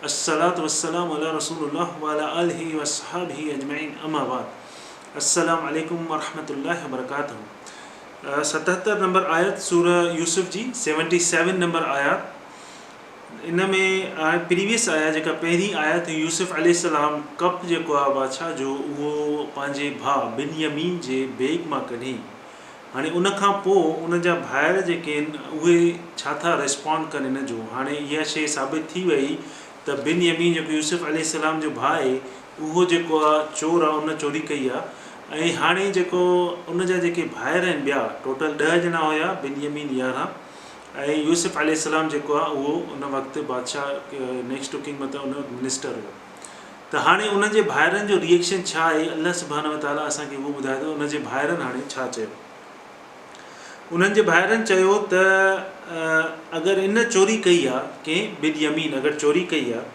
الصلوة والسلام علی رسول الله وعلی آله واصحابه اجمعين اما بعد السلام عليڪم ورحمة الله وبرڪاته ستهتر نمبر آيت سوره يوسف جي سيونٽي سيون نمبر آيات ان ۾ پريويس آيا جيڪا پهرين آيت هئي يوسف عليه السلام ڪپ جيڪو آ بادشاهه جو اهو پنهنجي ڀاء بن يمين جي بيگ مان ڪڍي هاڻي ان کان پوء ان جا ڀائر جيڪي آهن اهي ڇا ٿا ريسپانڊ ڪن ان جو هاڻي اها شيء ثابت ٿي وئي ته بن يمين جيڪو يوسف عليه السلام جو ڀاء آهي اهو جيڪو آ چور آ ان چوري ڪئي آ ۽ هاڻي جيڪو ان جا جيڪي ڀائر آهن ٻيا ٽوٽل ڏهه ڄڻا هيا بن يمين يارهن ۽ يوسف عليه السلام جيڪو آ اهو ان وقت بادشاهه نيڪسٽ ڪنگ مطلب ان منسٽر هو ته هاڻي انهن جي ڀائرن جو ريئيڪشن ڇا آهي الله سبحانه وتعاليٰ اسان کي اهو ٻڌائي ته انهن جي ڀائرن هاڻي ڇا چيو انهن جي ڀائرن چيو ته اگر ان چوري ڪئي آهي ڪنهن بليمين اگر چوري ڪئي آهي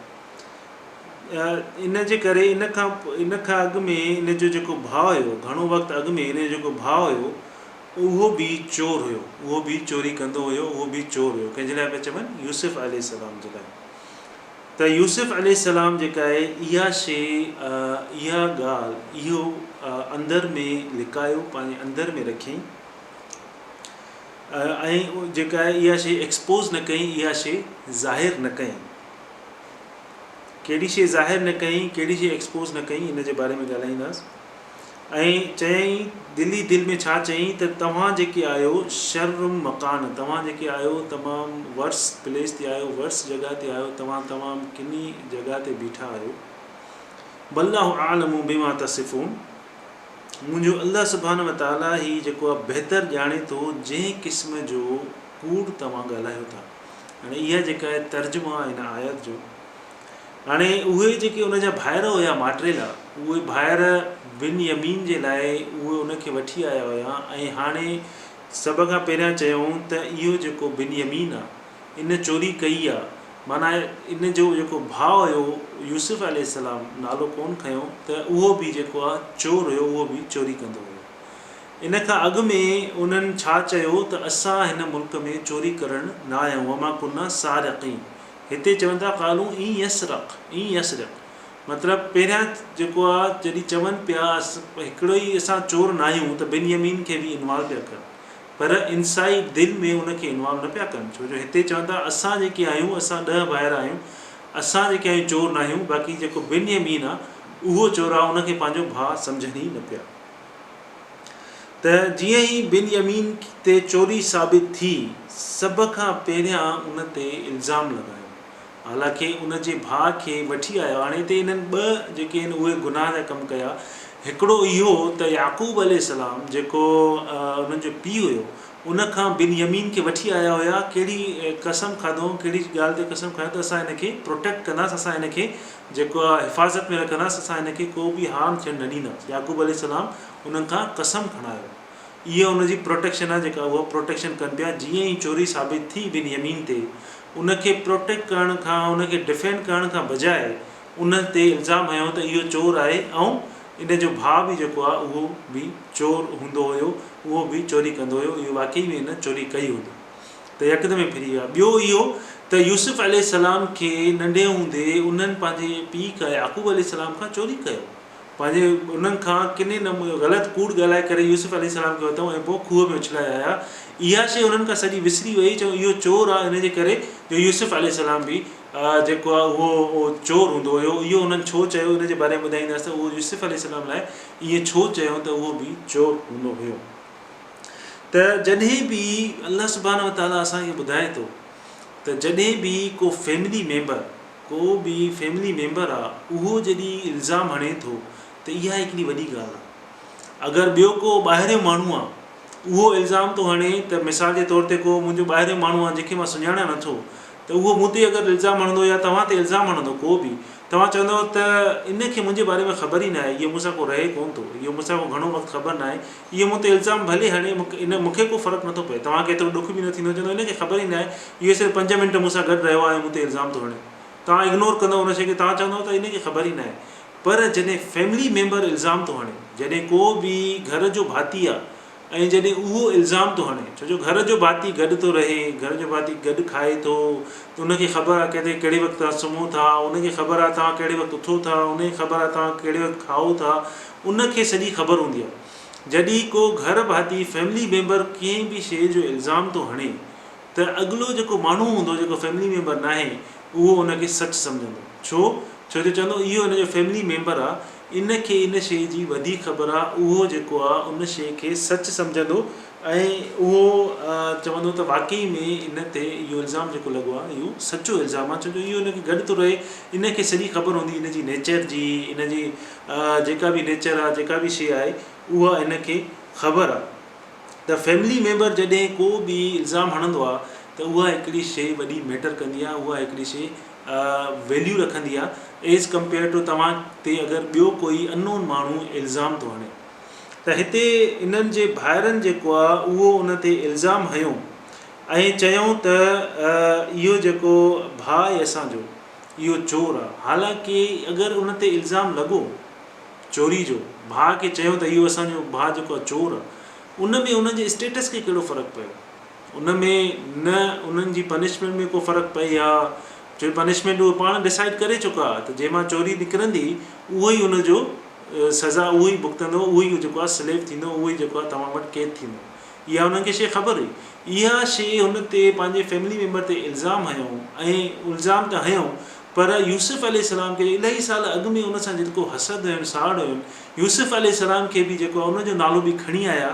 ان جي ڪري ان کان ان کان اڳ ۾ ان جو جيڪو ڀاء هيو گهڻو وقت اڳ ۾ ان جو جيڪو ڀاء هيو اهو به چور هيو اهو به چوري ڪندو هيو اهو به چور هيو ڪنهن جي لاء پيا چون يوسف عليه السلام جي لاء ته يوسف عليه السلام جيڪا آهي اها شيء، اها ڳالهه، اهو اندر ۾ لڪايو، پنهنجي اندر ۾ رکيائين ۽ جيڪا آهي اها شيء ايڪسپوز نه ڪيائين، اها شيء ظاهر نه ڪيائين. ڪهڙي شيء ظاهر نه ڪيائين، ڪهڙي شيء ايڪسپوز نه ڪيائين ان جي باري ۾ ڳالهائينداس. ۽ چيائين، دل ئي دل ۾ ڇا چيائين ته توهان جيڪي آهيو شرم مڪان، توهان جيڪي آهيو تمام ورس پليس تي آهيو، ورس جڳهه تي آهيو، توهان تمام ڪني جڳهه تي بيٺا آهيو. والله اعلم بما تصفون، منهنجو الله سبحانه وتعاليٰ ئي جيڪو آهي بهتر ڄاڻي ٿو جنهن قسم جو ڪوڙ توهان ڳالهايو ٿا. هاڻي اها جيڪا آهي ترجمو آهي هن آيت جو. هاڻي اهي جيڪي ان جا ڀائر هيا ماٽريلا اهي ڀائر بن يمين جي لاء اهي ان کي وٺي آيا هيا ۽ هاڻي سڀ کان پهريان چيائون ته اهو جيڪو بن يمين آ ان چوري ڪئي آ معنيٰ ان جو جيڪو ڀاء هيو يوسف عليه السلام نالو ڪون کنيو ته اهو به جيڪو آ چور هيو اهو به چوري ڪندو هيو ان کان اڳ ۾ انهن ڇا چيو ته اسان هن ملڪ ۾ چوري ڪرڻ نه آيا آهيون وما ڪنا سارقين هتي چون ٿا قالو ان يسرق ان يسرق مطلب پهريان جيڪو آ جڏهن چون پيا هڪڙو ئي اسان چور ناهيون ته بن يمين کي به انوالو پيا ڪن پر انسائيڊ دل ۾ ان کي انوالو نه پيا ڪن ڇو جو هتي چون ٿا اسان جيڪي آهيون اسان ڏهه ڀائر آهيون اسان جيڪي آهيون چور ناهيون باقي جيڪو بن يمين آ اهو چور آ ان کي پنهنجو ڀاء سمجهن ئي نه پيا. ته جيئن ئي بنيامين تي چوري ثابت ٿي، سڀ کان پهريان ان تي الزام لڳايو. حالانڪه ان جي ڀاء کي وٺي آيا. هاڻي هتي انهن ٻه جيڪي هن اهي گناهه جا ڪم ڪيا. هڪڙو اهو ته يعقوب عليه السلام جيڪو انهن جو پيء هيو، ان کان بنيامين کي وٺي آيا هيا. ڪهڙي قسم کاڌو هئائون، ڪهڙي ڳالهه تي قسم کايو ته اسان هن کي پروٽيڪٽ ڪنداسين، اسان هن کي جيڪو حفاظت ۾ رکندس، اسان هن کي ڪو به هارم ٿيڻ نه ڏينداسين. يعقوب عليه السلام انهن کان قسم کڻايو. اهي ان جي پروٽيڪشن آهي جيڪا اهي پروٽيڪشن ڪن پيا. جيئن ئي چوري ثابت ٿي بن يمين تي، ان کي پروٽيڪٽ ڪرڻ کان، ان کي ڊفينڊ ڪرڻ کان بجاء ان تي الزام هنيو ته اهو چور آهي ۽ ان جو ڀاء به جيڪو آهي اهو به چور هوندو هيو، اهو به چوري ڪندو هيو، اهو واقعي ۾ هن چوري ڪئي هوندي. ته يڪدم ئي ڦري ويا. ٻيو اهو ته يوسف عليه السلام کي ننڍي هوندي انهن پنهنجي پيء کان يعقوب عليه السلام کان چوري ڪيو. پنهنجي انهن کان ڪني نه غلط ڪوڙ ڳالهائي ڪري يوسف عليه السلام کي ورتائون ۽ پوء کوهه ۾ اڇلائي آيا. اها شيء انهن کان سڄي وسري ويئي چون اهو چور آ ان جي ڪري جو يوسف عليه السلام به جيڪو آ اهو چور هوندو هيو. اهو انهن ڇو چيو ان جي باري ۾ ٻڌائيندس ته اهو يوسف عليه السلام لاء ائين ڇو چيون ته اهو به چور هوندو هيو. ته جڏهن به الله سبحانه وتعاليٰ اسان کي ٻڌائي ٿو ته جڏهن به ڪو فيملي ميمبر ڪو به فيملي ميمبر آ اهو جڏي الزام هڻي ٿو ته اها هڪڙي وڏي ڳالهه آ اگر ٻيو ڪو ٻاهريو ماڻهو آ اهو الزام ٿو هڻي ته مثال جي طور تي ڪو منهنجو ٻاهريو ماڻهو آ جنهن کي مان سڃاڻان نه ٿو ته اهو مون تي اگر الزام هڻندو يا توهان تي الزام هڻندو ڪو به توهان چوندو ته ان کي منهنجي باري ۾ خبر ئي ناهي اهو مون سان ڪو رهي ڪون ٿو اهو مون سان ڪو گهڻو وقت خبر ناهي اهو مون تي الزام ڀلي هڻي مون کي ڪو فرق نٿو پوي توهان کي ايترو ڏک به نه ٿيندو چوندو هن کي خبر ئي ناهي اهو صرف پنج منٽ مون سان گڏ رهيو آهي ۽ مون تي الزام ٿو هڻي توهان اگنور ڪندو ان شيء کي توهان چوندو ته هن کي خبر ئي ناهي پر جڏهن فيملي ميمبر الزام ٿو هڻي جڏهن ڪو به گهر جو ڀاتي آهي ۽ جڏهن اهو الزام ٿو هڻي ڇو جو گهر جو ڀاتي گڏ ٿو رهي گهر جو ڀاتي گڏ کائي ٿو ته ان کي خبر آهي ڪٿي ڪهڙي وقت توهان سمهو ٿا ان کي خبر آهي توهان ڪهڙي وقت اٿو ٿا ان کي خبر آهي توهان ڪهڙي وقت کائو ٿا ان کي سڄي خبر هوندي آ. جڏهن ڪو گهر ڀاتي، فيملي ميمبر، ڪنهن به شيء جو الزام ٿو هڻي ته اڳلو جيڪو ماڻهو هوندو جيڪو فيملي ميمبر ناهي اهو ان کي سچ سمجهندو. ڇو؟ ڇو جو چوندو اهو هن جو فيملي ميمبر آ ان کي ان شيء جي وڌيڪ خبر آ اهو جيڪو آ ان شيء کي سچ سمجهندو ۽ اهو چوندو ته واقعي ۾ ان تي اهو الزام جيڪو لڳو آ اهو سچو الزام آ ڇو جو اهو ان کي گڏ ٿو رهي ان کي سڄي خبر هوندي ان جي نيچر جي ان جي جيڪا به نيچر آ جيڪا به شيء آهي اها هن کي خبر آ ته فيملي ميمبر جڏهن ڪو به الزام هڻندو آ ته اها هڪڙي شيء وڏي ميٽر ڪندي آ اها هڪڙي شيء ويليو رکندي آ ايز ڪمپيئر ٽو توهان تي اگر ٻيو ڪوئي انون ماڻهو الزام ٿو هڻي ته هتي انهن جي ڀائرن جيڪو آ اهو ان تي الزام هنيو ۽ چيائون ته اهو جيڪو ڀاء آهي اسان جو اهو چور آ. حالانڪ اگر ان تي الزام لڳو چوري جو، ڀاء کي چيو ته اهو اسان جو ڀاء جيڪو آ چور آ، ان ۾ انهن جي اسٽيٽس کي ڪهڙو فرق پيو؟ ان ۾ نه انهن جي پنشمينٽ ۾ ڪو فرق پئي ها، ڇو پنشمينٽ اهي پاڻ ڊسائيڊ ڪري چڪا ها ته جنهن مان چوري نڪرندي اهو ئي ان جو سزا اهو ئي ڀڳتندو اهو ئي جيڪو آ سليب ٿيندو اهو ئي جيڪو آ توهان وٽ قيد ٿيندو. اها هنن کي شيء خبر هئي. اها شيء هن تي پنهنجي فيملي ميمبر تي الزام هنيائون ۽ الزام ته هنيائون پر يوسف عليه السلام کي جو الائي سال اڳ ۾ ان سان جيترو حسد هين ساڙ هين يوسف عليه السلام کي به جيڪو آهي ان جو نالو به کڻي آيا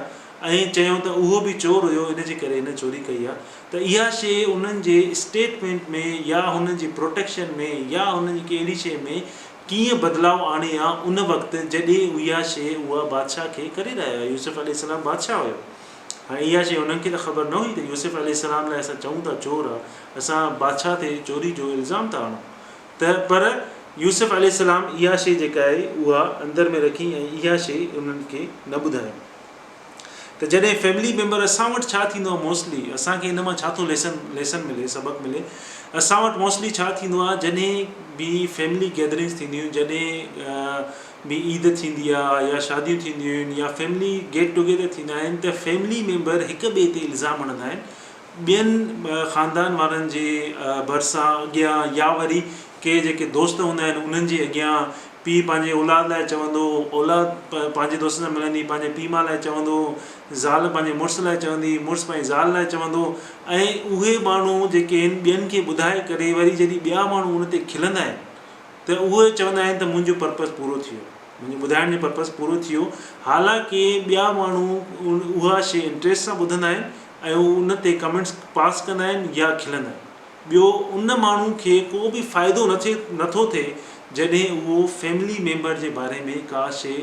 ۽ چيائون ته اهو به چور هيو ان جي ڪري هن چوري ڪئي آهي ته اها شيء انهن جي اسٽيٽمينٽ ۾ يا هنن جي پروٽيڪشن ۾ يا هنن جي ڪنهن اهڙي شيء ۾ ڪيئن بدلاء آڻي ها ان وقت جڏهن اها شيء اها بادشاهه کي ڪري رهيا هيا يوسف عليه السلام بادشاهه هيو هاڻي اها شيء انهن کي ته خبر نه هئي ته يوسف عليه السلام لاء اسان چئون ٿا چور آ اسان بادشاهه تي چوري جو الزام ٿا هڻون ته پر يوسف عليه السلام اها شيء جيڪا آهي اها اندر ۾ رکي ۽ اها شيء انهن کي نه ٻڌايون. ته جڏهن فيملي ميمبر اسان وٽ ڇا ٿيندو آهي موسٽلي اسان کي ان مان ڇا ٿو ليسن ليسن ملي سبق ملي اسان وٽ موسٽلي ڇا ٿيندو آهي جڏهن به فيملي گيدرنگس ٿينديون آهن جڏهن به عيد ٿيندي آهي يا شاديون ٿينديون آهن يا فيملي گيٽ ٽوگيدر ٿيندا آهن ته فيملي ميمبر هڪ ٻئي تي الزام هڻندا آهن ٻين خاندان وارن جي ڀرسان اڳيان يا وري ڪي جيڪي دوست هوندا آهن انهن جي اڳيان پيء پنهنجي اولاد لاء چوندو هو اولاد پنهنجي دوستن سان ملندي پنهنجي پيء ماء لاء چوندو هو زال پنهنجي مڙس لاء چوندي مڙس پنهنجي زال لاء چوندو ۽ اهي ماڻهو جيڪي آهن ٻين کي ٻڌائي ڪري وري جڏهن ٻيا ماڻهو ان تي کلندا آهن ته اهي چوندا آهن ته منهنجو پرپز پورو ٿي ويو منهنجو ٻڌائڻ جو پرپز پورو ٿي ويو حالانڪه ٻيا ماڻهو اها شيء انٽريسٽ سان ٻڌندا آهن ۽ هو ان تي ڪمينٽس پاس ڪندا آهن يا کلندا آهن. ٻيو ان ماڻهو کي ڪو به فائدو نه ٿي نه ٿو ٿئي جڏهن اهو فيملي ميمبر جي باري ۾ ڪا شي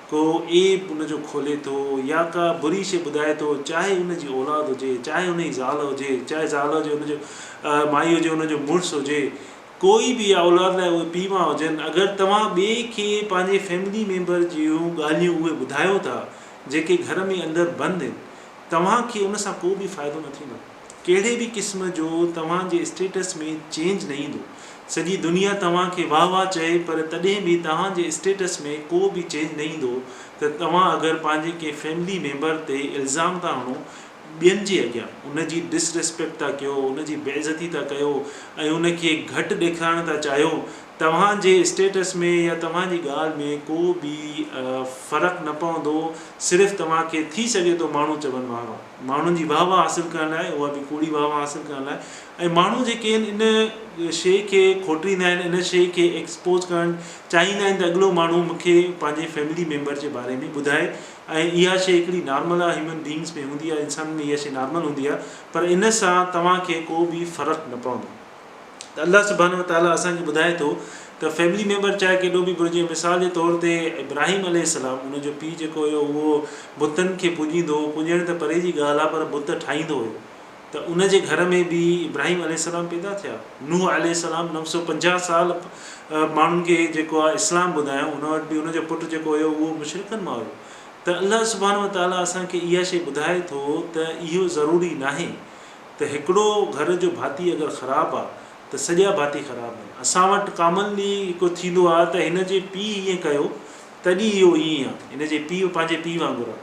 ڪو عيب ان جو کولي ٿو يا ڪا بري شي ٻڌائي ٿو چاهي ان جي اولاد هجي چاهي ان جي زال هجي چاهي زال هجي ان جو مائي هجي ان جو مڙس هجي ڪوئي به يا اولاد لاء اهي پيء ماء هجن اگر توهان ٻئي کي پنهنجي فيملي ميمبر جون ڳالهيون اهي ٻڌايو ٿا جيڪي گهر ۾ اندر بند هن توهان کي ان سان ڪو به فائدو نه ٿيندو. ڪهڙي به قسم جو توهان جي اسٽيٽس ۾ چينج نه ايندو. سڄي دنيا توهان کي واه واه چئي پر تڏهن به توهان جي اسٽيٽس ۾ ڪو به چينج نه ايندو ته توهان اگر پنهنجي ڪنهن فيملي ميمبر تي الزام ٿا هڻو ٻين جي اڳيان ان جي ڊس ريسپيڪٽ ٿا ڪيو ان جي بي عزتي ٿا ڪيو ۽ ان کي گهٽ ڏيکارڻ ٿا چاهيو توهان جي اسٽيٽس ۾ يا توهان جي ڳالهه ۾ ڪو به فرق نه پوندو، صرف توهان کي ٿي سگهي ٿو ماڻهو چون واه واه. ماڻهن جي واه واه حاصل ڪرڻ لاء اها به ڪوڙي واه واه حاصل ڪرڻ لاء ۽ ماڻهو جيڪي آهن ان شيء کي کوٽريندا آهن ان شيء کي ايڪسپوز ڪرڻ چاهيندا آهن ته اڳلو ماڻهو مون کي پنهنجي فيملي ميمبر جي باري ۾ ٻڌائي ۽ اها شيء هڪڙي نارمل آهي هيومن بينگز ۾ هوندي آهي انسانن ۾ اها شيء نارمل هوندي آهي پر ان سان توهان کي ڪو به فرق نه پوندو. ته الله سبحانه وتعاليٰ اسان کي ٻڌائي ٿو ته فيملي ميمبر چاهي ڪيڏو به برجي مثال جي طور تي ابراهيم عليه السلام ان جو پيء جيڪو هيو اهو بتن کي پوڄيندو هو پوڄڻ ته پري جي ڳالهه آهي پر بت ٺاهيندو هيو ته ان جي گهر ۾ به ابراهيم عليه السلام پيدا ٿيا نوح عليه السلام نو سو پنجاهه سال ماڻهن کي جيڪو آهي اسلام ٻڌايو ان وٽ به ان جو پٽ جيڪو هيو اهو مشرڪن مان هيو ته الله سبحانه وتعاليٰ اسان کي اها شي ٻڌائي ٿو ته اهو ضروري ناهي ته هڪڙو گهر جو ڀاتي اگر خراب آ ته سڄا ڀاتي خراب آهن. اسان وٽ ڪامنلي اهو ٿيندو آ ته هن جي پيء ائين ڪيو تڏهن اهو ائين آ. هن جي پيء پنهنجي پيء وانگر آ.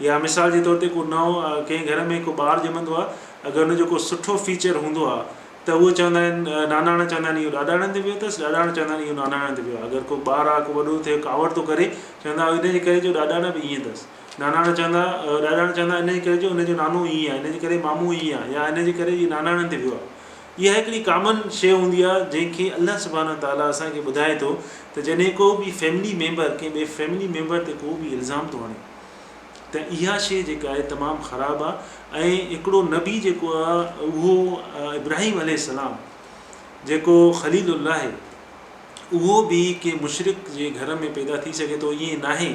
يا مثال جي طور تي ڪو نئون ڪنهن گهر ۾ ڪو ٻار ڄمندو آ اگر ان جو ڪو سٺو فيچر هوندو آ ته اهو چوندا آهن ناناڻا چوندا آهن اهو ڏاڏاڻي هنڌ ويو اٿس ڏاڏاڻا چوندا آهن اهو ناناڻي هنڌ ويو آ. اگر ڪو ٻار آ ڪو وڏو ٿيو ڪاوڙ ٿو ڪري چوندا ان جي ڪري جو ڏاڏاڻا به ائين اٿس. ناناڻا چوندا ۽ ڏاڏاڻا چوندا آهن، انهيء ڪري جو انهيء جو نانو ائين آهي، انهيء جي ڪري مامو ائين آهي يا انهيء جي ڪري هيء ناناڻن تي ويو آهي. اها هڪڙي ڪامن شيء هوندي آهي، جنهن کي الله سبحانه و تعاليٰ اسان کي ٻڌائي ٿو ته جڏهن ڪو به فيملي ميمبر ڪنهن ٻئي فيملي ميمبر تي ڪو به الزام ٿو هڻي ته اها شيء جيڪا آهي تمام خراب آهي ۽ هڪڙو نبي جيڪو آهي اهو ابراهيم عليه السلام جيڪو خليل الله اهو به ڪنهن مشرڪ جي گهر ۾ پيدا ٿي سگهي ٿو ائين ناهي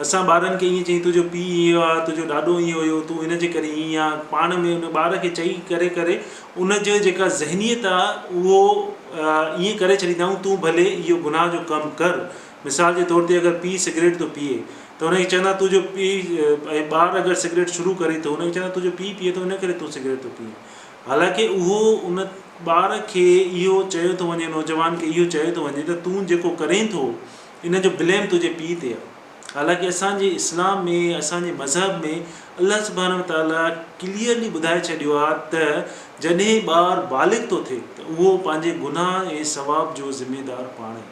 اسان ٻارن کي ائين چئي تنهنجو پيء ائين هو آ تنهنجو ڏاڏو ائين هيو تون هن جي ڪري ائين آ پاڻ ۾ ان ٻار کي چئي ڪري ڪري ان جي جيڪا ذهنيت آ اهو ائين ڪري ڇڏيندا آهيون تون ڀلي اهو گناهه جو ڪم ڪر مثال جي طور تي اگر پيء سگريٽ ٿو پيئي ته ان کي چوندا تنهنجو پيء ۽ ٻار اگر سگريٽ شروع ڪري ٿو ان کي چوندا تنهنجو پيء پيئي ٿو ان ڪري تون سگريٽ ٿو پيئي حالانڪه اهو ان ٻار کي اهو چيو ٿو وڃي، نوجوان کي اهو چيو ٿو وڃي ته تون جيڪو ڪرين ٿو ان جو بليم تنهنجي پيء تي آهي. حالانڪه اسان جي اسلام ۾ اسان جي مذهب ۾ الله سبحانه وتعاليٰ ڪليئرلي ٻڌائي ڇڏيو آهي ته جڏهن ٻار بالغ ٿو ٿئي ته اهو پنهنجي گناهه ۽ ثواب جو ذميدار پاڻ آهي.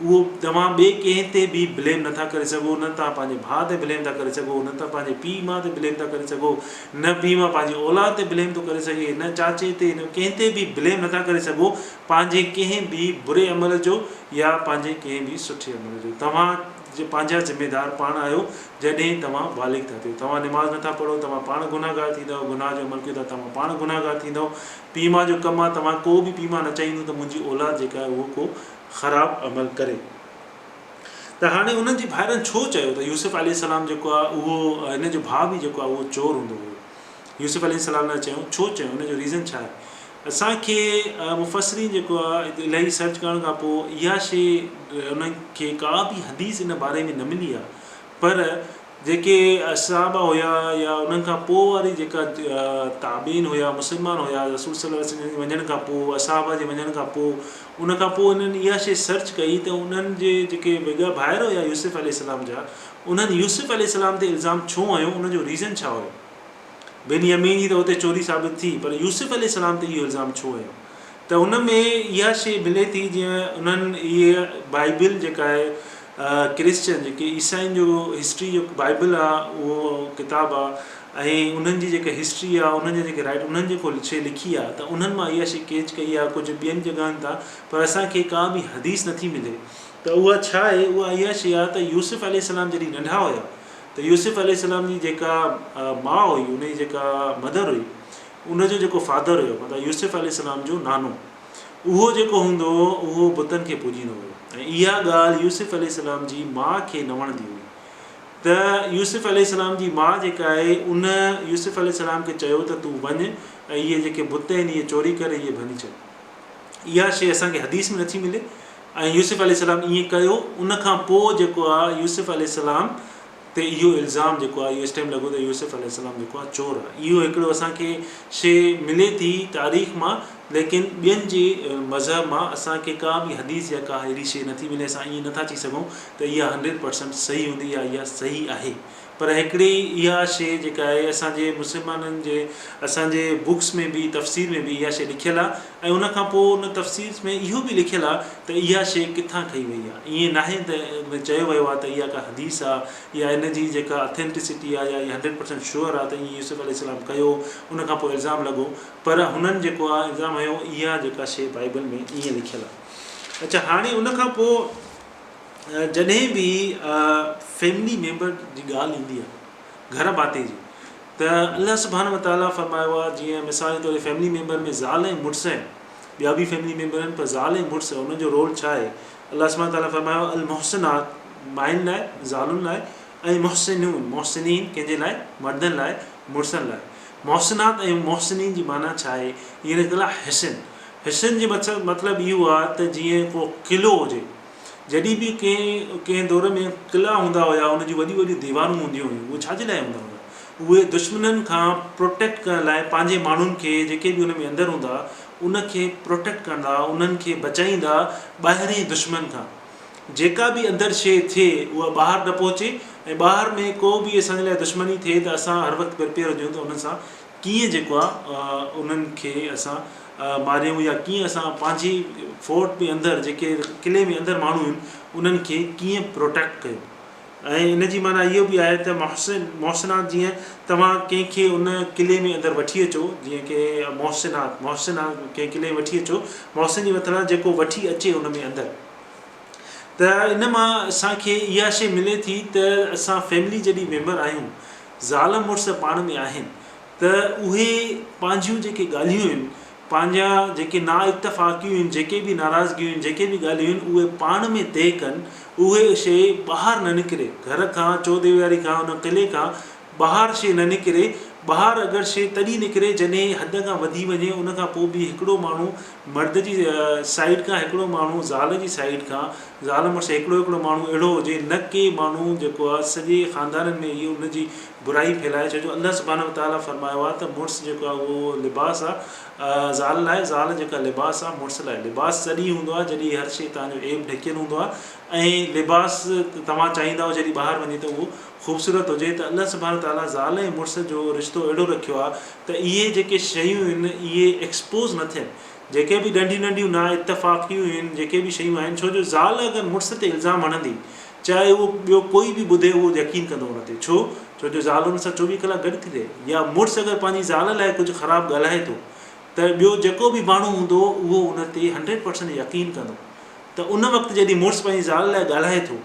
اهو توهان ٻئي ڪنهن تي به بليم نٿا ڪري سگهو، نه توهان پنهنجي ڀاء تي بليم ٿا ڪري سگهو، نه ته پنهنجي پيء ماء تي بليم ٿا ڪري سگهو، نه ڀي اوهان پنهنجي اولاد تي بليم ٿو ڪري سگهي، نه چاچي تي نه ڪنهن تي به بليم نٿا ڪري سگهو پنهنجي ڪنهن به بري عمل جو يا پنهنجي ڪنهن به سٺي عمل جو توهان پنهنجا ذميدار پاڻ آهيو جڏهن توهان بالغ ٿا ٿيو توهان نماز نٿا پڙهو توهان پاڻ گنهگار ٿيندؤ گناهه جو عمل ڪيو ٿا توهان پاڻ گنهگار ٿيندؤ پيء ماء جو ڪم آهي توهان ڪو به پيء ماء نه چاهيندو ته منهنجي اولاد جيڪا آهي اهو ڪو خراب عمل ڪري ته هاڻي انهن جي ڀائرن ڇو چيو ته يوسف عليه السلام جيڪو آهي اهو هن جو ڀاء به جيڪو آهي اهو چور هوندو هو يوسف عليه السلام لاء چيو ڇو چيو ان جو ريزن ڇا آهي اسان کي مفسرين جيڪو آهي الهي سرچ ڪرڻ کان پوء اها شيء انهن کي ڪا به حديث ان باري ۾ نه ملي آهي پر جيڪي اصحابه هيا يا انهن کان پوء واري جيڪا تابعين هيا مسلمان هيا رسول صلي الله عليه وسلم جي وڃڻ کان پوء اصحابه جي وڃڻ کان پوء ان کان پوء انهن اها شيء سرچ ڪئي ته انهن جي جيڪي وڳا ڀائر هيا يوسف عليه السلام جا انهن يوسف عليه السلام تي الزام ڇو هنيو ان جو ريزن ڇا هيو بنيامين جي ته هتي چوري ثابت ٿي پر يوسف عليه السلام تي اهو الزام ڇو هنيو ته ان ۾ اها شيء ملي ٿي جيئن انهن اهي بائبل جيڪا آهي ڪرسچن جيڪي عيسائين جو هسٽري جو بائبل آهي اهو ڪتاب آهي ۽ انهن جي جيڪا هسٽري آهي انهن جا جيڪي رائٽ انهن جيڪو شيء لکي آهي ته انهن مان اها شيء ڪيچ ڪئي آهي ڪجهه ٻين جڳهن تان پر اسانکي ڪا به حديث نٿي ملي ته اها ڇا آهي اها اها شيء آهي ته يوسف عليه السلام جڏهن ننڍا هيا ته يوسف عليه السلام جي جيڪا ماء هئي ان جي جيڪا مدر هئي ان جو جيڪو فادر هيو مطلب يوسف عليه السلام جو نانو اهو جيڪو هوندو هو اهو بتن کي پوڄيندو هيو ۽ اها ڳالهه يوسف عليه السلام جي ماء کي نه وڻندي هئي ته يوسف عليه السلام جي ماء جيڪا آهي ان يوسف عليه السلام کي چيو ته تون وڃ ۽ اهي جيڪي بت آهن اهي چوري ڪري اهي ڀڃي ڇڏ اها شيء اسان کي حديث ۾ نٿي ملي ۽ يوسف عليه السلام ائين ڪيو ان کان پوء جيڪو آهي يوسف عليه السلام تي اهو الزام جيڪو آهي اهو اس ٽائيم لڳو ته يوسف عليه السلام جيڪو آهي چور آهي اهو هڪڙو اسان کي شي ملي ٿي تاريخ مان ليڪن ٻين جي مذهب مان اسان کي ڪا به حديث يا ڪا اهڙي شي نٿي ملي اسان ائين نٿا چئي سگهون ته اها هنڊريڊ پرسنٽ صحيح هوندي يا اها صحيح آهي پر هڪڙي اها شي جيڪا آهي اسان جي مسلمانن جي اسان جي بڪس ۾ به تفسير ۾ به اها شي لکيل آهي ۽ ان کان پوء ان تفسير ۾ اهو به لکيل آ ته اها شيء ڪٿان ٺهي وئي آ. ائين ناهي ته ۾ چيو ويو آ ته اها ڪا حديث آ يا ان جي جيڪا Authenticity آ يا اها هنڊريڊ پرسنٽ شيور آ ته ائين يوسف عليه السلام ڪيو ان کان پوء الزام لڳو پر هنن جيڪو آ الزام هنيو اها جيڪا شيء بائيبل ۾ ائين لکيل آ. اڇا هاڻي ان کان پوء جڏهن به فيملي ميمبر جي ڳالهه ايندي آ. گهر ڀاتي جي ته الله سبحانه وتعالٰي فرمايو آهي جيئن مثال جي طور فيملي ميمبر ۾ زال ۽ مڙس آهن ٻيا به فيملي ميمبر آهن پر زال ۽ مڙس انهن جو رول ڇا آهي الله سبحانه وتعالٰي فرمايو المحسنات مائين لاء زالن لاء ۽ محسنون محسنين ڪنهن جي لاء مردن لاء مڙسن لاء محسنات ۽ محسنين جي معنيٰ ڇا آهي اهي نڪتل حسن حسن جي مطلب اهو آهي ته جيئن ڪو قلعو هجي جڏهن به ڪنهن ڪنهن دور ۾ قلعا هوندا هيا ان جون وڏيون وڏيون ديوارون هونديون هيون اهي ڇاجي لاء هوندا هوندا اهي دشمنن کان پروٽيڪٽ ڪرڻ لاء پنهنجي ماڻهن کي جيڪي به ان ۾ اندر هوندا ان کي پروٽيڪٽ ڪندا انهن کي بچائيندا ٻاهرين دشمن کان جيڪا به اندر شيء ٿئي اها ٻاهر نه پهچي ۽ ٻاهر ۾ ڪو به اسان جي لاء دشمني ٿئي ته اسان هر وقت پرپيئر هجون ته انهن سان ڪيئن جيڪو آ انهن کي اسان ماريون يا ڪيئن اسان پنهنجي فورٽ ۾ اندر جيڪي قلعي ۾ اندر ماڻهو آهن انهن کي ڪيئن پروٽيڪٽ ڪيون ۽ ان جي معنيٰ اهو به آهي ته محسن محسنات جيئن توهان ڪنهن کي ان قلعي ۾ اندر وٺي اچو جيئن ڪي محسنات محسنات ڪنهن قلعي ۾ وٺي اچو محسن جي مٿان جيڪو وٺي اچي ان ۾ اندر ته ان مان اسانکي اها شيء ملي ٿي ته اسان فيملي جڏهن ميمبر آهيون زال مڙس پاڻ ۾ آهن ته اهي پنهنجيون جيڪي ڳالهيون آهن، پنهنجا جيڪي نا اتفاقيون آهن، جيڪي به ناراضگيون آهن، جيڪي به ڳالهيون آهن اهي پاڻ ۾ طئي ڪن، اهي شيء ٻاهر نه نڪري، گهر کان، چوديواري کان، ان قلعي کان ٻاهر شيء نه نڪري، ٻاهر اگر شيء تڏهن نڪري جڏهن حد کان وڌي وڃي، ان کان پوء به هڪڙو ماڻهو. مرد جي سائيڊ کان هڪڙو ماڻهو زال جي سائيڊ کان زال مڙس هڪڙو هڪڙو ماڻهو اهڙو هجي نه ڪي ماڻهو جيڪو آ سڄي خاندانن ۾ اهي ان جي برائي ڦهلائي ڇو جو الله سبحانه وتعالٰي فرمايو آ ته مڙس جيڪو آ اهو لباس آ زال لاء زال جيڪا لباس آ مڙس لاء لباس تڏهن هوندو آ جڏهن هر شي تنهنجو عيب ڍڪيل هوندو آ ۽ لباس توهان چاهيندا آهيو جڏهن ٻاهر وڃي ته اهو خوبصورت هجي ته الله سبحانه تعاليٰ زال ۽ مڙس جو رشتو اهڙو رکيو آهي ته اهي جيڪي شيون هن اهي ايڪسپوز نه ٿين جيڪي به ڏنڊيون ننڊيون نا اتفاقيون هن جيڪي به شيون آهن ڇو جو زال اگر مڙس تي الزام هڻندي چاهي اهو ٻيو ڪوئي به ٻڌي اهو يقين ڪندو ان تي ڇو ڇو جو زال ان سان چوويهه ڪلاڪ گڏ ٿي رهي يا مڙس اگر پنهنجي زال لاء ڪجهه خراب ڳالهائي ٿو ته ٻيو جيڪو به ماڻهو هوندو اهو ان تي هنڊريڊ پرسنٽ يقين ڪندو ته ان وقت جڏهن مڙس پنهنجي زال لاء ڳالهائي ٿو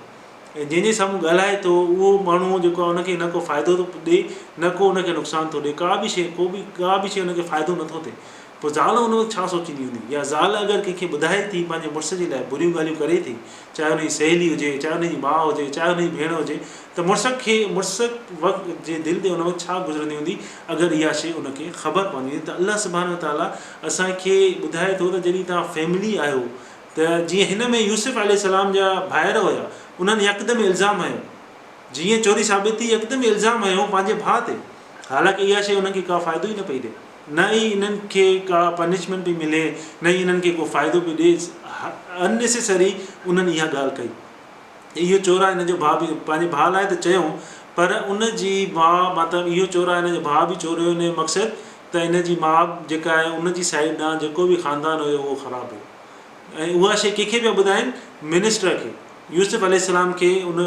۽ جنهن جي سامهون ڳالهائي ٿو اهو ماڻهو جيڪو آهي ان کي نه ڪو فائدو ٿو ڏي نه ڪو ان کي نقصان ٿو ڏي ڪا بي شيء ڪو بي ڪا بي شيء ان کي فائدو نٿو ٿئي پوء زال ان وقت ڇا سوچيندي هوندي يا زال اگر ڪنهن کي ٻڌائي ٿي پنهنجي مڙس جي لاء بريون ڳالهيون ڪري ٿي چاهي ان جي سهيلي هجي چاهي ان جي ماء هجي چاهي ان جي ڀيڻ هجي ته مڙس کي مڙس وقت جي دل تي ان وقت ڇا گذرندي هوندي اگر اها شيء ان کي خبر پوندي ته الله سبحانه وتعالٰي اسان کي ٻڌائي ٿو ته جڏهن توهان فيملي آهيو ته جيئن هن ۾ يوسف عليه السلام جا ڀائر هيا انهن يڪدم الزام هنيو جيئن چوري ثابت ٿي يڪدم الزام هنيو پنهنجي ڀاء تي حالانڪ اها شيء انهن کي ڪا فائدو ئي نه پئي ڏي نه ئي انهن کي ڪا پنشمينٽ پئي ملي نه ئي انهن کي ڪو فائدو پئي ڏي Unnecessary انهن اها ڳالهه ڪئي اهو چورا هن جو ڀاء به پنهنجي ڀاء لاء ته چيو پر ان جي ماء مطلب اهو چورا هن جو ڀاء به چوريو ان جو مقصد ته هن جي ماء جيڪا آهي ان جي سائيڊ ڏانهن جيڪو به خاندان هيو اهو خراب هيو ۽ اها شيء ڪنهن کي پيا ٻڌائين منسٽر کي يوسف عليه السلام کي ان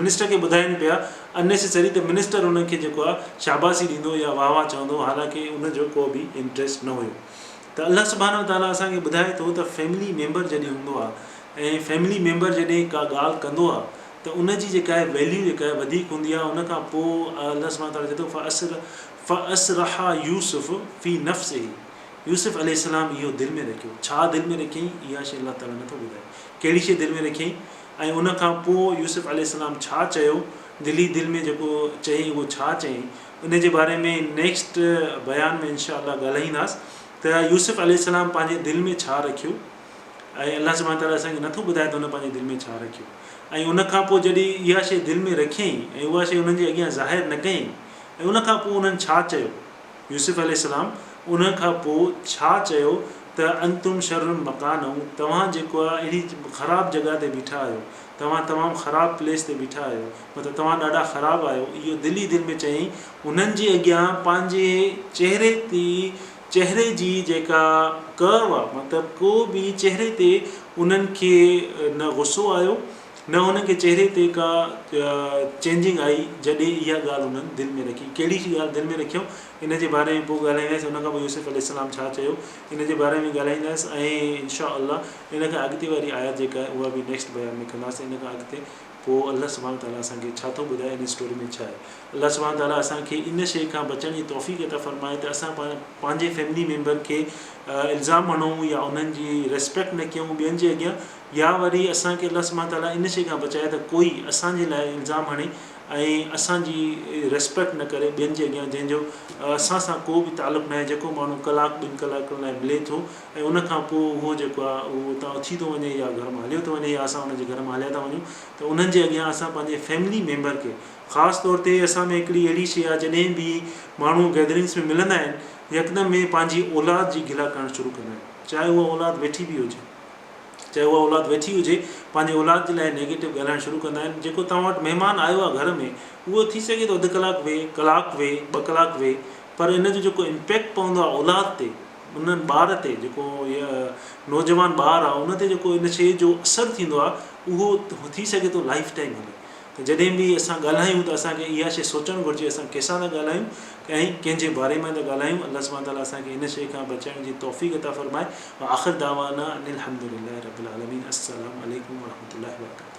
منسٽر کي ٻڌائين پيا انيسيسري ته منسٽر انهن کي جيڪو آهي شاباسي ڏيندو يا واهه واهه چوندو حالانڪ ان جو ڪو به انٽريسٽ نه هيو ته الله سبحانه وتعاليٰ اسان کي ٻڌائي ٿو ته فيملي ميمبر جڏهن هوندو آهي ۽ فيملي ميمبر جڏهن ڪا ڳالهه ڪندو آهي ته ان جي جيڪا آهي ويليو جيڪا آهي وڌيڪ هوندي آهي ان کان پوء الله سبحانه وتعاليٰ چوي ٿو فاسر فاسرها يوسف في نفسه، يوسف عليه السلام اهو دل ۾ رکيو. ڇا دل ۾ رکيائين؟ اها شيء الله تعاليٰ نٿو ٻڌائي. ڪهڙي شيء دل ۾ رکيائين ۽ ان کان پوء يوسف عليه السلام ڇا چيو، دل ئي دل ۾ جيڪو چيائين اهو ڇا چيائين، ان جي باري ۾ نيڪسٽ بيان ۾ انشاء الله ڳالهائينداس ته يوسف عليه السلام پنهنجي دل ۾ ڇا رکيو ۽ الله سبحانه وتعاليٰ اسان کي نٿو ٻڌائي ته هن پنهنجي دل ۾ ڇا رکيو ۽ ان کان پوء جڏهن اها شيء دل ۾ رکيائين ۽ اها شيء انهن جي اڳيان ظاهر نه ڪيائين. ۽ ان کان پوء انهن ڇا چيو؟ يوسف عليه السلام ان کان پوء ڇا چيو ته انتم شر مڪانا توهان جيڪو آهي اهڙي خراب جڳهه تي بيٺا آهيو، توهان تمام خراب پليس تي بيٺا آهيو، مطلب توهان ڏاڍا خراب آهيو، اهو دل ئي دل ۾ چيائين، انهن جي اڳيان پنهنجي چهري تي چهري جي جيڪا ڪرو آهي مطلب ڪو به چهري تي انهن کي نه غصو آيو نه هن کي چهري تي ڪا چينجنگ آئي جڏهن اها ڳالهه هنن دل ۾ رکي. ڪهڙي شي ڳالهه دل ۾ رکيو ان جي باري ۾ پوء ڳالهائيندس ان کان پوء يوسف عليه السلام ڇا چيو ان جي باري ۾ ڳالهائيندس ۽ انشاء الله ان کان اڳتي واري آيات جيڪا آهي اها به نيڪسٽ بيان ۾ ڪنداسين ان کان اڳتي پوء الله سبحانه تعالٰي اسان کي ڇا ٿو ٻڌائي ان اسٽوري ۾ ڇا آهي الله سبحانه تعالٰي اسان کي ان شيء کان بچڻ جي توفيق عطا فرمائي ته اسان پاڻ پنهنجي فيملي ميمبر کي الزام هڻون يا انهن جي ريسپيڪٽ نه ڪيون ٻين جي اڳيان يا وري اسان کي الله سبحانه تعاليٰ ان شيء کان بچائي ته ڪوئي اسان جي لاء الزام هڻي ۽ اسان جي ريسپيڪٽ نه ڪري ٻين جي اڳيان جنهن جو اسان سان ڪو به تعلق ناهي جيڪو ماڻهو ڪلاڪ ٻن ڪلاڪن لاء ملي ٿو ۽ ان کان پوء اهو جيڪو آهي اهو اتان اٿي ٿو وڃي يا گهر مان هليو ٿو وڃي يا اسان ان جي گهر مان هليا ٿا وڃون ته انهن جي اڳيان اسان پنهنجي فيملي ميمبر کي خاص طور تي اسان ۾ هڪڙي اهڙي شيء آهي جڏهن به ماڻهو گيدرنگس ۾ ملندا آهن يڪدم ۾ پنهنجي اولاد جي گلا ڪرڻ شروع ڪندا آهن چاهي اها اولاد ويٺي به هجي چاهي اها اولاد ويٺي هجي پنهنجي اولاد جي لاء نيگيٽو ڳالهائڻ شروع ڪندا آهن جيڪو توهان وٽ مهمان آيو آهي گهر ۾ اهو ٿي سگهي ٿو اڌ ڪلاڪ ويهي ڪلاڪ ويهي ٻه ڪلاڪ ويهي پر ان جو جيڪو امپيڪٽ پوندو آهي اولاد تي انهن ٻار تي جيڪو نوجوان ٻار آهي ان تي جيڪو ان شيء جو اثر ٿيندو آهي اهو ٿي سگهي ٿو لائف ٽائيم هلي ته جڏهن به اسان ڳالهايون ته اسان کي اها شيء سوچڻ گهرجي اسان ڪنهن سان ٿا ڳالهايون ۽ ڪنهن جي باري ۾ ٿا ڳالهايون الله سبحانه وتعاليٰ اسان کي ان شيء کان بچڻ جي توفيق عطا فرمائي واخر دعوانا ان الحمد لله رب العالمين السلام عليڪم ورحمة الله وبرڪاته.